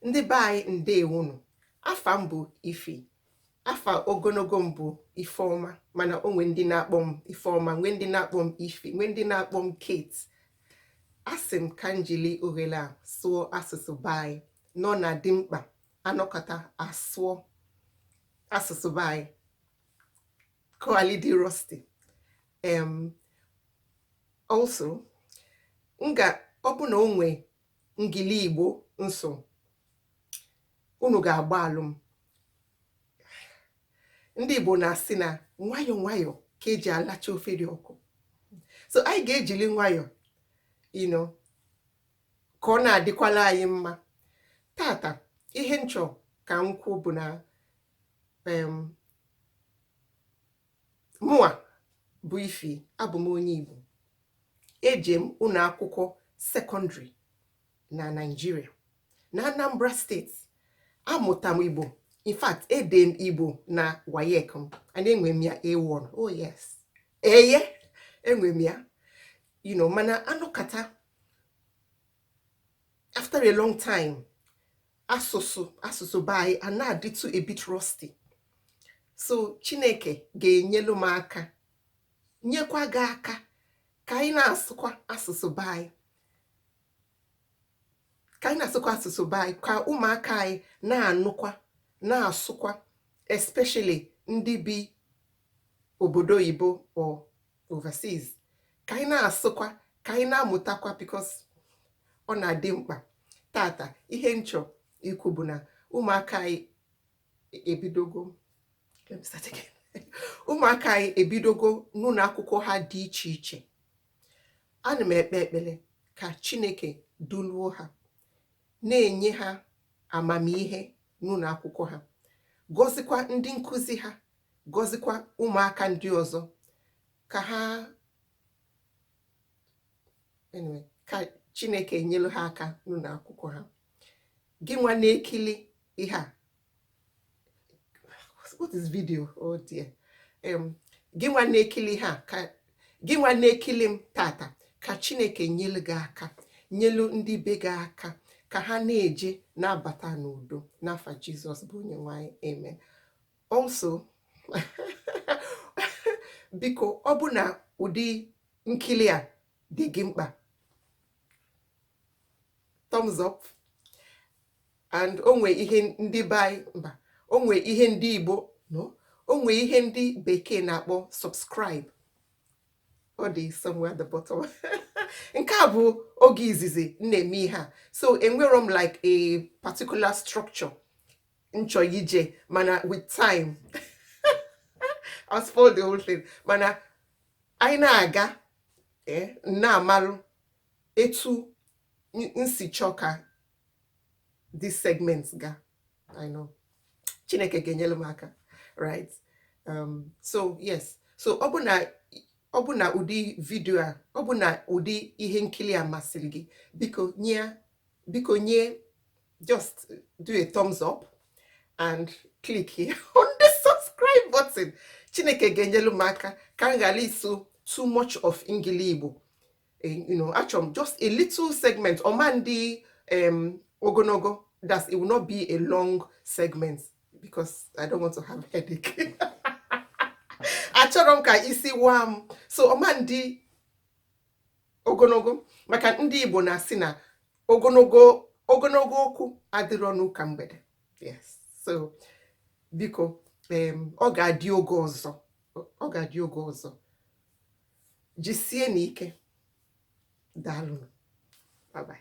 ndị be anyị ndewonu afa m bụ ifi afa ogonogo m bụ ifeọma mana o nwe ndị na-akpọ m ifeọma nwee ndị na-akpọ m ifi nwee ndị na-akpọ m kate asị m ka njili ohele a sụọ asụsụ be anyị na ọ na-adị mkpa anọkata asụọ asụsụ be anyị ka ọ ghalị ịdị rusty em also m ga ọ bụ na o nwee ngili igbo m sụọ unu ga-agbaghalụ m ndị igbo na-asị na nwayọọ nwayọọ ka eji alacha ofe dị ọkụ so anyị ga-ejili nwayọọ you know ka ọ na-adịkwala anyị mma tata ihe nchọ ka m kwuo bụ na Mụnwa bụ Ifi, abụ m onye Igbo. Eje m ụnọ akwụkwọ sekọndịrị na Naịjirịa, na Anambra steeti. Amụta m Igbo. In fact, ede m Igbo na WAEC m. And enwe m ya A1. Oh yes. Eye, enwe m ya. You know, mana anọkata after a long time, asụsụ asụsụ be anyị ana-adịtụ a bit rusty so chineke ga-enyelu m aka nyekwa gị aka ka anyị na-asụkwa asụsụ be anyị ka anyị na-asụkwa asụsụ be anyị ka ụmụaka anyị na-anụkwa na-asụkwa especially ndị bi obodo oyibo or overseas ka anyị na-asụkwa ka anyị na-amụtakwa because ọ na-adị mkpa tata ihe nchọ ikwu bụ na ụmụaka anyị e-, ebidogo ụmụaka anyị ebidogo n'ụlọ akwụkwọ ha dị iche iche ana m ekpe ekpele ka chineke duluo ha na-enye ha amamihe n'ụlọ akwụkwọ ha gọzikwa ndị nkụzi ha gọzikwa ụmụaka ndị ọzọ ka ha ka chineke nyelu ha aka n'ụnọ akwụkwọ ha gị nwa na-ekili ihe a what is video oh dear gị nwa na-ekili ihe a ka gị nwa na-ekili m tata ka chineke nyelu gị aka nyelu ndị be gị aka ka ha na-eje na-abata n'udo n'afa jizọs bụ onye nwe anyị amen Also, biko ọ bụ na ụdị nkili a dị gị mkpa thumbs up and o nwe ihe ndị be anyị mba o nwe ihe ndị Igbo no o nwe ihe ndị bekee na-akpọ subscribe ọ dị somewhere at the bottom nke a bụ oge izizi m na-eme ihe a so enwerọ m like a particular structure m chọ ije mana with time I spoiled the whole thing mana anyị na-aga eh, na-amarụ etu m si chọọ ka this segment ga I know Chineke ga-enyelu m aka right um, so yes so ọ bụ na ọ bụ na ụdị vidio a ọ bụ na ụdị ihe nkili a masịrị gị biko nye biko nye just do a thumbs up and click here on the subscribe button chineke ga-enyelu m aka ka m ghara ịsụ too much of Engli-Igbo eh, you know achọ m just a little segment ọ ma-adị um, ogonogo that it will not be a long segment because I don't want to have headache. achọrọ m ka isi waa m so ọ ma-adị ogonogo maka ndị Igbo na-asị na ogonogo ogonogo okwu adịrọ n'ụka mgbede yes so biko ọ ga-adị oge ọzọ ọ ga-adị oge ọzọ jisie na ike daalụ bye bye